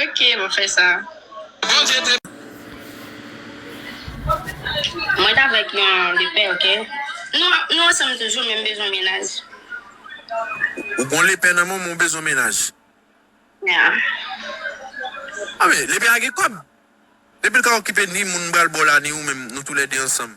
Ok map fè sa. Mwen t avèk yon lepè ok. Nou ansanm toujou men m bezwen mennaj. Ou gon lepè nan menw men w bezwen mennaj. Yeah. Lepè a gen kòb. Depi l ka okipe ni moun m pral baw la ni ou menm nou tou lè 2 ansanm.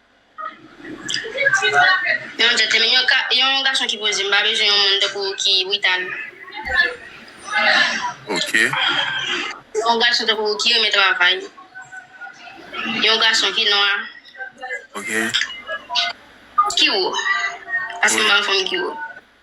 Yon gentleman, yon ka, yon gason ki poze. M pa bezwen yon moun tankou ou ki brital. Ok. Yon gason tankou ou ki renmen travay. Yon gason ki nwa. Ok. Ki wo. Paske m pa yon fanm ki wo.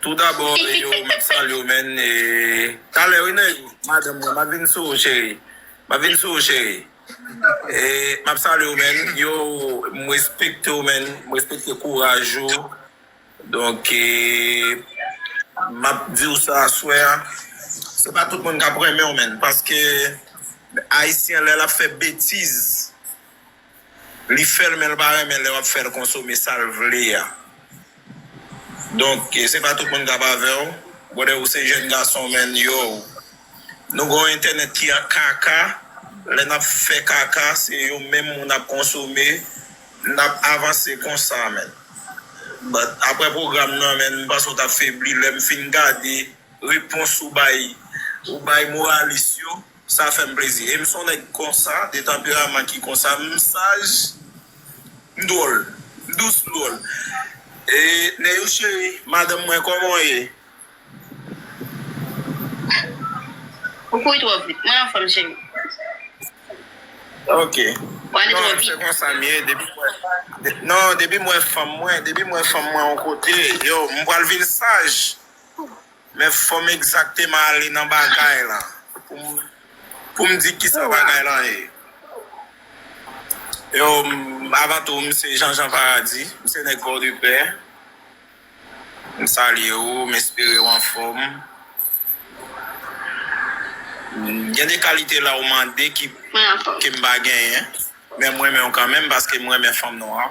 Tou dabò yo map salye w menn e talè wi nèg madanm mwen map vin sou ou cheri map vin sou ou cheri e map salye w menn yo m respekte w menn m respekte kouraj ou donk e map di w sa aswè a se pa tout moun kap renmen w menn paske ayisyen lè lap fè betiz Li fèl menl pa renmen lè wap fèl konsome sal vle a donk se pa tout moun kap avèw brother ou se jèn gason menn yow nou gen yon entènèt ki an kaka lè nap fè kaka se yo menm moun ap konsome nap avanse konsa menn but aprè pwogram nan menn m panse ou tap febli lèm fin gade repons ou bay ou bay moralis yo. Sa fèm plezi e m son nèg konsa de tanperaman ki konsa m saj m dwòl m dous m dwòl e Neyou cheri madanm mwen kòman w ye? Ou kouri twò vit mwen anfòm cheri. Ok non se konsa m ye depi m wè non depi m wè fanm mwen depi m wè fanm mwen yon kote yo m pral vin saj. Men fòm egzakteman ale nan bagay lan pou m di kisa bagay lan ye. Yo, avan tou m se Jean Jean Paradis, m se nèg Pòdepè. M salye ou, m espere ou anfòm. Gen de kalite la ou mande ke m pa genyen, men m renmen ou kanmenm paske m renmen fanm nwa.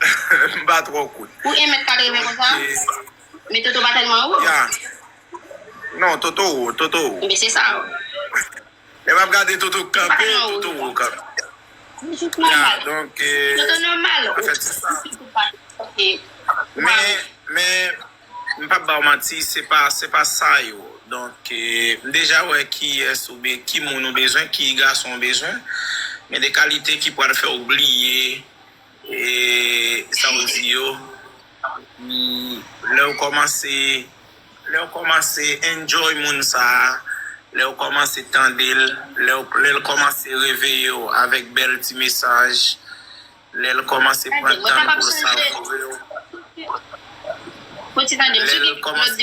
M pa twò kout. Ou 1 mèt 80 konsa? Men Toto pa tèlman wo? Ya. Non, Toto wo, Toto wo. Enben se sa w. Lè m ap gade Toto k kanpe, Toto wo kanpe. Ya, donk e. Toto nòmal. An fèt se sa. Men, men, m p ap ba w manti, se pa, se pa sa yo. Donk e, m deja wè kiyès ou be, ki moun ou bezwen, ki gason ou bezwen. Men de kalite ki pral fè w bliye. E sa ou di yo lè ou kòmanse lè ou kòmanse enjoy moun sa a, lè ou kòmanse tande l, lè ou lè l kòmanse reveye ou avèk bèl ti mesaj, lè l kòmanse pran tan l pou l savure ou, lè l kòmanse.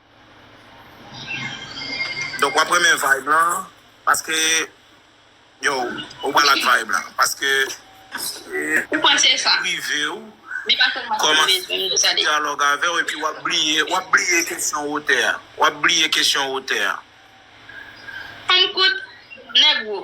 Donk wap renmen vibe lan paske yow ou pral ak vibe lan paske ou panse sa privew kòmanse yon dyalòg avèw epi wap bliye wap bliye kesyon wotè a wap bliye kesyon wotè a. Ann kout nèg wo.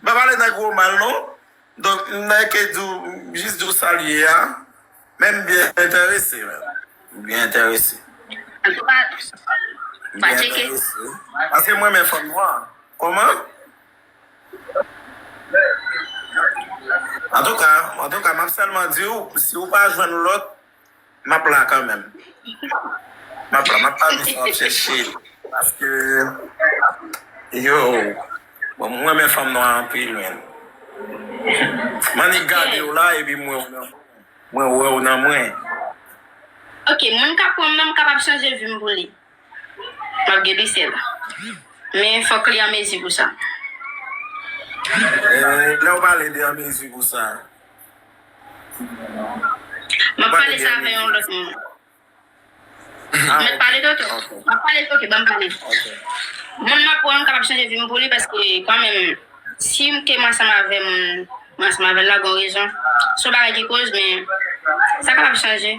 M pa pale nan gwo mal non. Donk m nan ke di w, m jis di w sa l ye a. Men m byen enterese menm. M byen enterese. An tou ka, m va tcheke. Paske m renmen fanm nwa. Kòman? An tou ka, an tou ka, m ap sèlman di w, si w pa jwenn lòt. Map la kanmenm. Map la map pa janm ap chèche paske yoo bon m renmen fanm nwa anpil menn m annik gadew la epi m wèw nan mwen wèw nan mwen. Ok moun kap pranm nan m kapab chanje vim pou li map gen pisel men fòk li an mezi pou sa. Lèw pale de an mezi pou sa. Mwen ap pale sa avè yon lòt moun. Mwen pale de to. Mwen ap pale ok banm pale. Moun map wè m kapab chanje vim pou li paske kan menm sim te ansanm avè moun mwen ansanm avèl la gon rezon. Son bagay ki koz men sa kapab chanje.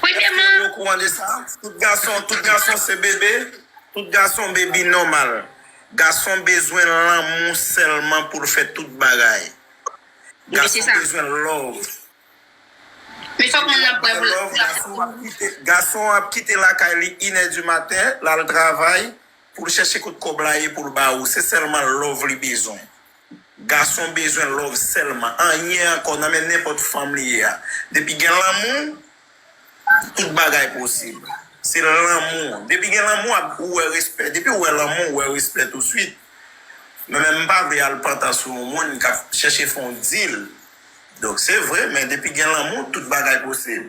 Premyèman. Èske ou okouran de sa? Tout gason, tout gason se bebe? Tout gason bebi nòmal. Gason bezwen lanmou sèlman pou l fè tout bagay. Gason bezwen love. Men fòk moun nan prè pou l aksepte. Gason ap kite lakay li inè di maten, l al travay pou l chèche kot kòb la ye pou l ba ou. Se sèlman love li bezwen. Gason bezwen love sèlman anyen ankò nan men nenpòt fanm li ye a depi gen lanmou tout bagay posib se lanmou depi gen lanmou ap ou wè respè depiw wè lanmou ou wè respè tou swit mwen menm mpa vle al pantan sou yon moun kap chèche fon dil donk se vre men depi gen lanmou tout bagay posib.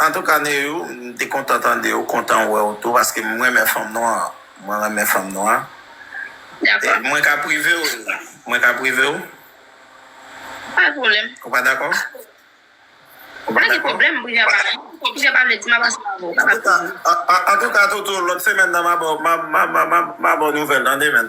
Antouka Neyou m te kontan tandew kontan wèw tou paske m renmen fanm nwa mwen renmen fanm nwa mwen ka privew mwen ka privew pa pwoblèm ou pa dakò ou pa dakò antouka Toto lòt semèn nan ma baw ma baw nouvèl tande men.